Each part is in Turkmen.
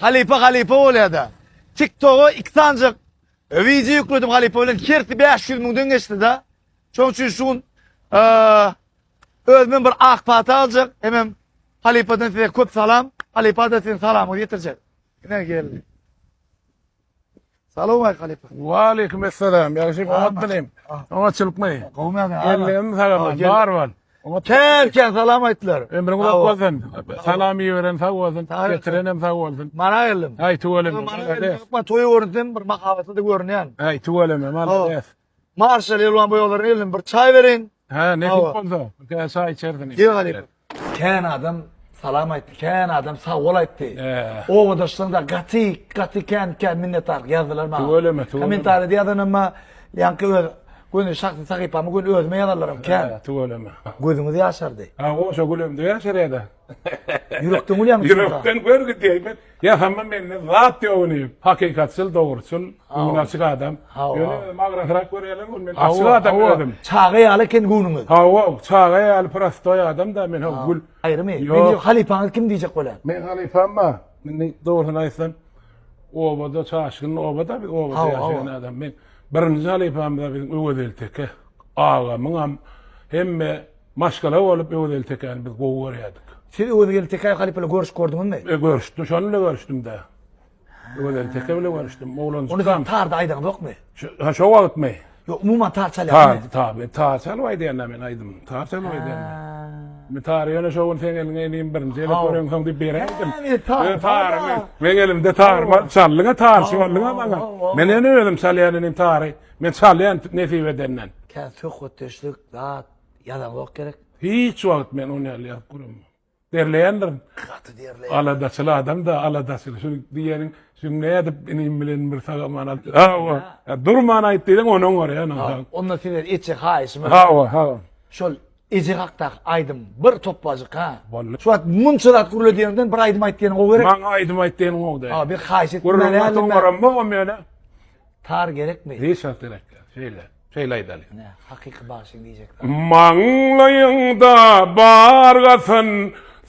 Halypa halypa bolýada. Tiktoga iki sanjak wideo ýükledim halypa bilen hersi 500 müňden geçdida. Şoň üçin şu gün özümden bir ak pata aljak. Hemem halypadan size köp salam. Halypa da sizin salamyňyzy ýetirjek. Ine geldi. Salowmaleýk halypa. Waleýkim essalam. Ýagşymy oňatmynym? Oňatçylykmy? Gowmy ýa? Ellerim sagalman. Bar bol. Kän kän salam aýtdylar. Ömrüň uzak bolsun. Salam iberen sag bolsun. Getirenem sag bolsun. Mana geldim. Aý tüweleme. Mana geldim. Toýy görünsem bir mahabatly-da görünýän. Aý tüweleme. Malades. Marşal elwan boýaglaryny elden bir çaý beriň. Hä, nesip bolsa, bir kä çaý içersin. Diýe galyp. Kän adam salam aýtdy, kän adam sag bol aýtdy. Obadaşlaryň da gaty, gaty kän, kän minnetdarlyk ýazdylar maňa. Tüweleme, tüweleme. Kommentarýada ýazanymma, ýaňky öz göni şahsy sahypama göni özüme ýazanlaram kän. Tüweleme. Gözüňiz ýaşardy. Hawa, goşa gülemde ýaşarýa-da. Ýürekden gülýäňmi? Ýürekden görgi diýmen. Ýa hamma mende zat ýok ini. Hakykatçyl, dogruçyl, göwni açyk adam. Ýöne özüm agrasrak görýärler ol men açyk adam özüm. Çaga ýaly eken göwnüňiz. Hawa, çaga ýaly prostoý adam da men haw gül. Aýrymy? Meni halypaňyz kim diýjek bolýar? Meň halypam bar. Indi dogrusyny aýtsam obada çaşgyn obada biz obada ýaşaýan adam. Men birinji halypamyz biziň Öwez Elteke agamyňam hemme Maşgala bolup Öwez Eltekäni biz gowy görýärdik. Siz Öwez Eltekä halypala görüşip gördüňizmi? E, görüşdim, şony bilen görüşdim-dä. Öwez Elteke bilen görüşdim, oglanjykam. Ony siz tarda aýdaňyzokmy? Ha, şo wagtmy? Ýok, umuman tar çalýarmy? Tar, tar, men tar çalyp aýdýan-da men aýdym. Tar çalyp aýdýan men. Men tary ýöne şo gün seň eliňe elin birinji elip görensoň diýip beräýdim. Men tary, men elimde tar bar, çallyňa tar çallyňa maňa. Men ene özüm çalýan elim tary. Men çalýan nesip edenden. Kä söhbetdeşlik, zat. Ýazanok gerek. Hiç wagt men ony ýaly ýazyp göremok. Derleýändirin. Gaty derleýär. Aladaçyl adam da aladaçyl. Şu diýeniň jümle edip inim bilen bir saga mana. Hawa. Durman aýt diýseň onuň bar ýa nahar. Onda senden etjek haýyşym. Hawa, hawa. Şol eje hakdaky aýdym bir topbajyk ha. Boldy. Şu wagt munça zat gürle diýenden bir aýdym aýt diýeniň gowy gerek. Maňa aýdym aýt diýeniň gowy däl. Hawa bir haýyş et. Gürrüň aýt oňaramok o mene. Tar gerekmi? Nisant gerekler. Şeýle. Şeýle aýdaly. Nä, hakyky bagşyň diýjek zady. Maňlaýyňda bar gatan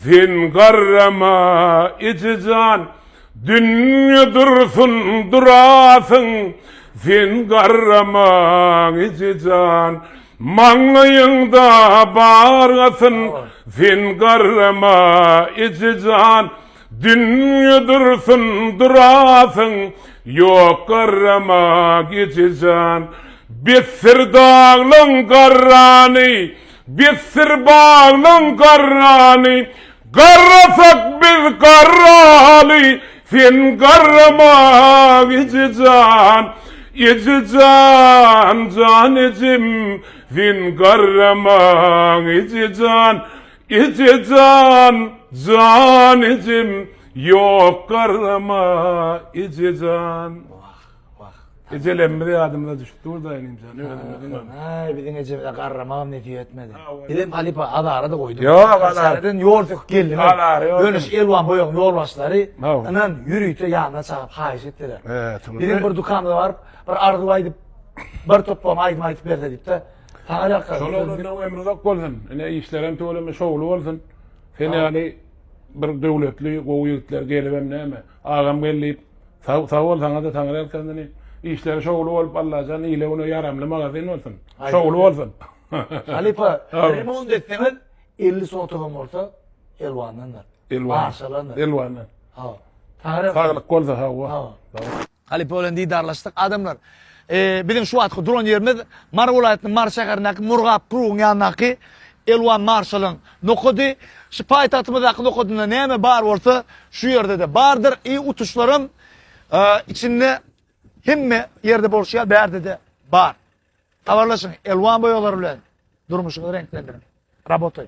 sen garrama ejejan Dünýe dursun durasyň sen garrama ejejan Maňlaýyňda bar gatan sen garrama ejejan Dünýe dursun durasyň, ýok garrama gijejan. Bitdir daglaň garrany, bitdir baglaň garrany, Garrasak biz garraly, sen garrama gijejan. Ejejan, jan ejem, sen garrama gijejan. Eje jan, jan ejem, ýok garrama, eje jan. Wah, wah. Ejelerimiz ýadymyza düşüp durda inim jan, özümiziň hem. Aý, biziň ejemize garramagam nesip etmedi. Bizem halypa azara-da goýduk. Ýok, azar. Çäreden ýol söküp geldim. Azar, ýok. Önüş Elwan boýagyň ýolbaşçylary, ynan, ýörite ýanyna çagyryp haýyş etdiler. Biziň bir dükanymyza baryp, bir arzuw aýdyp, bir toplam aýdym aýdyp berse diýip-de, Şol oglanlaň ömri uzak bolsun ine işlerem tüweleme şowly bolsun sen ýaly bir döwletli gowy ýigitler gelibem näme agam gel diýip sag bol saňada taňry ýalkasyn işleri şowly bolup allajan ile güne ýaramly magazin bolsun şowly bolsun halypa remont etseňiz elli sotygam bolsa elwandan bar maşalandyr elwandan saglyk bolsa hawa. Halypa bilen didarlaşdyk. Adamlar, biziň şu wagtky duran ýerimiz Mary welaýatynyň Mary şäherindäki Murgap krugyň ýanyndaky Elwan marşalyň nokady. Şu paýtagtymyzdaky nokadynda näme bar bolsa, şu ýerde-de bardyr. I utuşlaram içinde hemme ýerde bolşy ýaly bärde-de bar. Habarlaşyň, elwan boýalar bilen durmuşyňyzy reňklendiriň. Rabotaý!